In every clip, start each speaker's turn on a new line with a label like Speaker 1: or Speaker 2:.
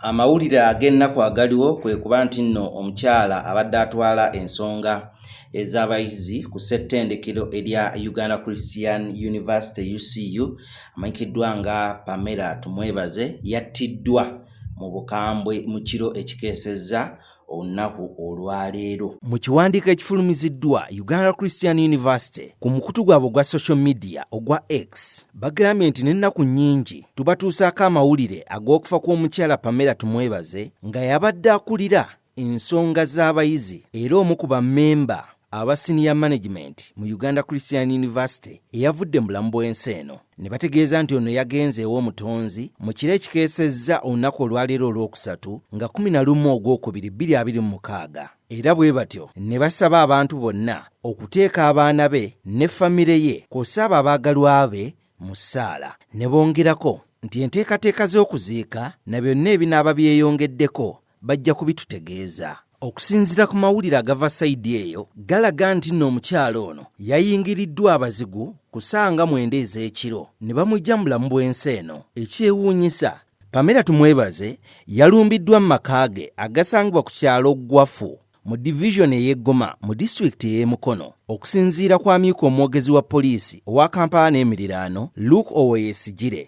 Speaker 1: Amawulire ag'ennaku agaliwo kwe kuba nti nno omukyala abadde atwala ensonga ez'abayizi ku ssettendekero erya Uganda Christian University UCU amanyikiddwa nga Pamela Tumwebaze yattiddwa mu bukambwe mu kiro ekikeesezza olunaku olwaleero. Mu kiwandiiko ekifulumiziddwa Uganda Christian University ku mukutu gwabwe ogwa social media ogwa X bagambye nti n'ennaku nnyingi tubatuusaako amawulire ag'okufa kw'omukyala Pamela Tumwebaze nga yabadde akulira ensonga z'abayizi era omu ku bammemba aba senior management mu uganda christian university eyavudde mu bulamu bw'ensi eno ne bategeeza nti ono yagenze ew'omutonzi mu kiro ekikeesezza olunaku olwaleero olw'okusatu nga 11 ogw'okubiri 226 era bwe batyo ne basaba abantu bonna okuteeka abaana be ne famire ye kw'ossa abo abaagalwa be mu ssaala ne bongerako nti enteekateeka z'okuziika na byonna ebinaaba byeyongeddeko Bajja kubitutegeeza. Okusinzira ku mawulire agava sayidi eyo galaga nti nno omukyala ono yayingiriddwa abazigu ku saanga mwenda ez'ekiro ne bamujja mulamu bw'ensi eno. Ekyewuunyisa Pamela Tumwebaze yalumbiddwa mu maka ge agasangibwa ku kyalo Ggwafu mu divizoni ey'e Goma mu disitulikiti ey'e Mukono. Okusinziira kw'amyuka omwogezi wa poliisi owa Kampala n'emiriraano, Luke Owoyesigyire,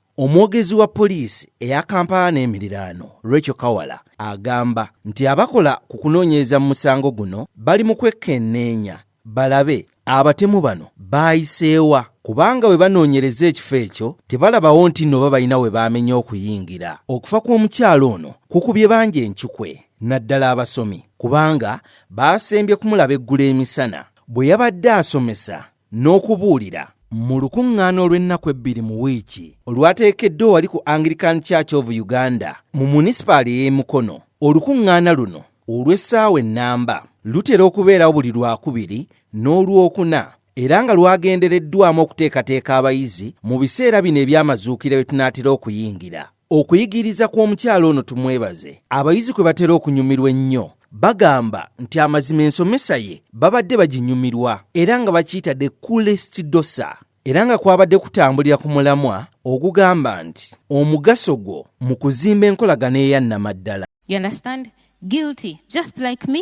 Speaker 1: Omwogezi wa poliisi eya Kampala n'emiriraano Rachel Kawala agamba nti abakola ku kunoonyereza mu musango guno bali mu kwekkenneenya balabe abatemu bano baayiseewa kubanga bwe banoonyereza ekifo ekyo tebalabawo nti nno oba balina we baamenya okuyingira okufa kw'omukyalo ono kukubye bangi encukwe naddala abasomi kubanga baasembye kumulaba eggula emisana bwe yabadde asomesa n'okubuulira. Mu lukuŋŋaana olw'ennaku ebbiri mu wiiki olwateekeddwa wali ku Anglican Church of Uganda mu munisipaali ey'e Mukono, olukuŋŋaana luno olw'essaawa ennamba lutera okubeerawo buli Lwakubiri n'Olwokuna era nga lwagendereddwamu okuteekateeka abayizi mu biseera bino eby'amazuukira bye tunaatera okuyingira. Okuyigiriza kw'omukyala ono tumwebaze abayizi kwe batera okunyumirwa ennyo bagamba nti amazima ensomesa ye babadde baginyumirwa era nga bakiyita the coolest dosa era nga kwabadde kutambulira ku mulamwa ogugamba nti omugaso gwo mu kuzimba enkolagana eyannamaddala
Speaker 2: guilty just like me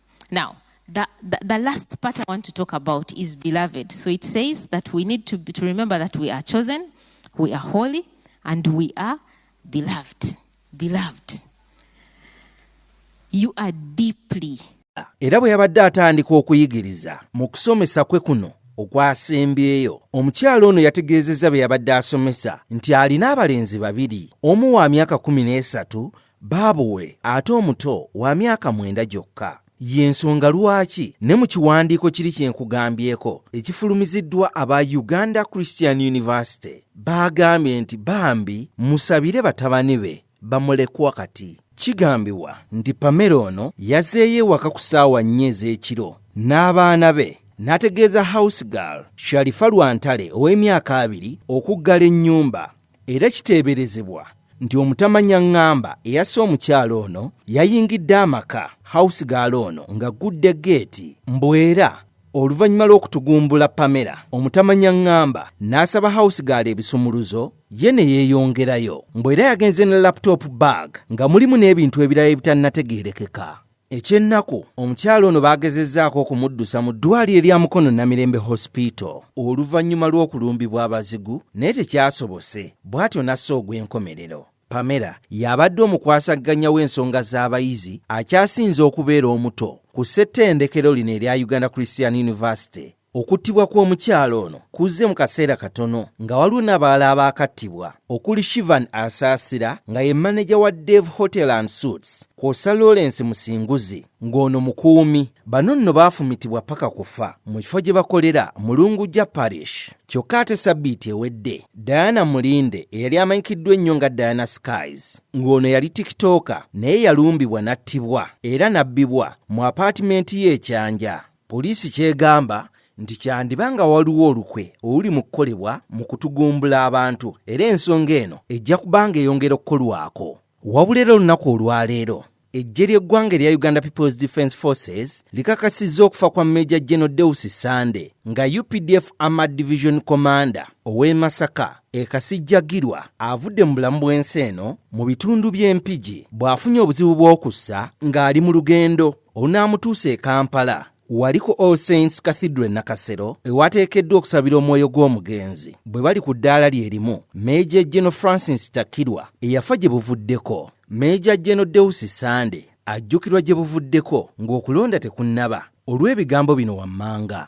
Speaker 2: Now, the, the, the, last part I want to talk about is beloved. So it says that we need to, to remember that we are chosen, we are holy, and we are beloved. Beloved. You are deeply. era bwe yabadde
Speaker 1: atandika okuyigiriza mu kusomesa kwe kuno okwasembyeyo omukyala ono yategeezezza bye yabadde asomesa nti alina abalenzi babiri omu wa myaka 13 Baabo we ate omuto wa myaka mwenda gyokka. Y'ensonga lwaki ne mu kiwandiiko kiri kye nkugambyeko ekifulumiziddwa aba Uganda Christian University baagambye nti bambi musabire batabani be bamulekwa kati. Kigambibwa nti Pamela ono yazeeyo ewaka ku ssaawa nnya ez'ekiro n'abaana be n'ategeeza house girl Sharifa Lwantale ow'emyaka abiri okuggala ennyumba Era kiteeberezebwa nti omutamanyangamba eyasse omukyala ono yayingidde amaka house gaala ono ng'aggudde geeti mbwera oluvannyuma lw'okutugumbula pamela omutamanyangamba n'asaba house gaala ebisumuluzo ye ne yeeyongerayo mbwera yagenze ne laptop bag nga mulimu n'ebintu ebirala ebitanategeerekeka Eky'ennaku, omukyala ono baagezezzaako okumuddusa mu ddwaaliro lya Mukono Namirembe Hospital oluvannyuma lw'okulumbibwa abazigu naye tekyasobose bw'atyo n'assa ogw'enkomerero. Pamela y'abadde omukwasagganya w'ensonga z'abayizi akyasinze okubeera omuto ku ssettendekero lino erya Uganda Christian University Okuttibwa kw'omukyala ono kuzze mu kaseera katono nga waliwo n'abalala abaakattibwa okuli Shivan Asaasira nga ye maneja wa Dave Hotel and Suits kwosa Lawrence Musinguzi ng'ono mukuumi. Bano nno baafumitibwa paka kufa mu kifo gye bakolera mu Lungujja Parish. Kyokka ate sabbiiti ewedde Diana Mulinde eyali amanyikiddwa ennyo nga Diana Skies ng'ono yali tikitooka naye yalumbibwa n'attibwa era n'abbibwa mu apaatimenti ye ekyanja. Poliisi ky'egamba nti kyandiba nga waliwo olukwe oluli mu kukolebwa mu kutugumbula abantu era ensonga eno ejja kubanga eyongera okukolwako. Wabula era olunaku olwaleero eggye ly'eggwanga erya uganda peoples defence forces likakasizza okufa kwa meja geno deus sande nga updf ama division commander ow'e masaka ekasijjagirwa avudde mu bulamu bw'ensi eno mu bitundu by'empigi bw'afunye obuzibu bw'okussa ng'ali mu lugendo Onaamutuusa e Kampala wali ku All Saints Cathedral Nakasero ewateekeddwa okusabira omwoyo gw'omugenzi bwe bali ku ddaala lye limu Meeja Geno Francis Takirwa eyafa gye buvuddeko Meeja Geno Deusi Sande ajjukirwa gye buvuddeko ng'okulonda tekunnaba olw'ebigambo bino wammanga.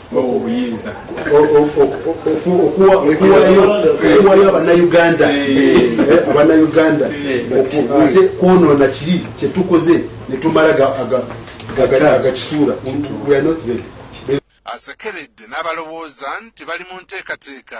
Speaker 3: obuyinza okuwayo abanauganda abanauganda ate kwonona kiri kyetukoze netumala agakisuura asekeredde
Speaker 4: n'abalowooza nti bali mu nteekateeka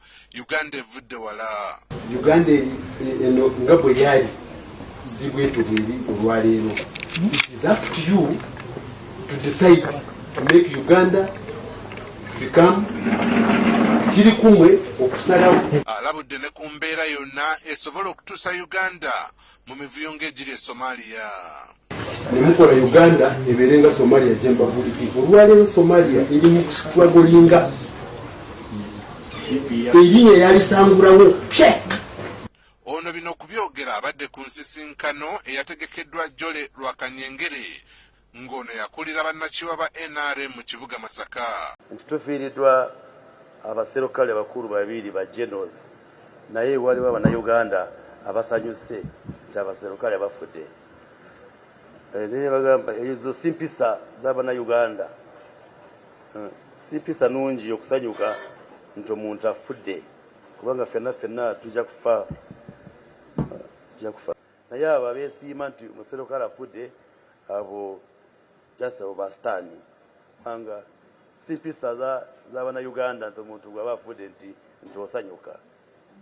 Speaker 4: Uganda evudde wala. Uganda
Speaker 3: eno nga bwe yali zibweto bweri olwaleero. It is up to you to decide to make Uganda become kiri kumwe okusalawo. Alabudde ne ku
Speaker 4: mbeera yonna esobola okutuusa Uganda mu mivuyo ng'egiri e Somalia. ne
Speaker 3: mukola uganda ebeere nga somalia jembabuuliki olwaleero somalia eri mu kusitragolinga eri eyalisangulawo pye
Speaker 4: ono bino okubyogera abadde ku nsisinkano eyategekeddwa jole lwakanyengere ng'ono yakulira bannakyewa ba nrm mu kibuga Masaka. Nti tufiiridwa
Speaker 5: abaserokale abakulu babiiri ba Generals naye waliwo abanayuganda abasanyuse nti abaserokale bafudde eh, naye bagamba ezo si mpisa z'abanayuganda eh, si mpisa nungi okusanyuka nti omuntu afudde kubanga fenna fenna tujja kufa eh, tujja kufa Naye abo abesiima nti muserukale afudde abo just abo basitaani kubanga si mpisa zabanayuganda nti omuntu bwaba afudde nti nti osanyuka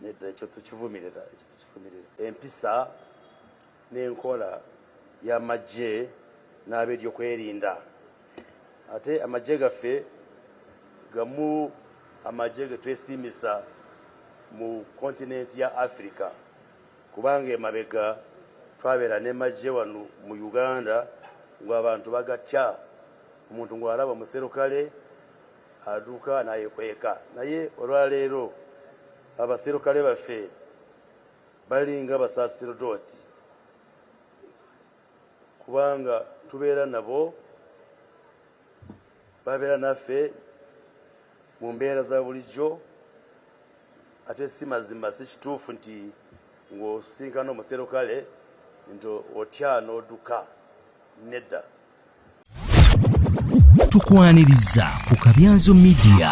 Speaker 5: nedda ekyo tukivumirira ekyo tukivumirira empisa n'enkola y'amagye n'abeeryokwerinda ate amagye gaffe gamu amagye ge twesiimisa mu kontinenti ya afirika Kubanga emabega twabera ne majje wano mu Uganda ngo abantu bagatya omuntu ngo alaba omuserukale aduka nayekweka naye olwaleero abaserukale baffe balinga basaserdoti. kubanga tubeera nabo babeera naffe mu mbeera za bulijjo ate si mazima si kituufu nti ng'osinkana omuserukale nti otya n'odduka nedda
Speaker 6: tukwaniriza ku kabyanzo midiya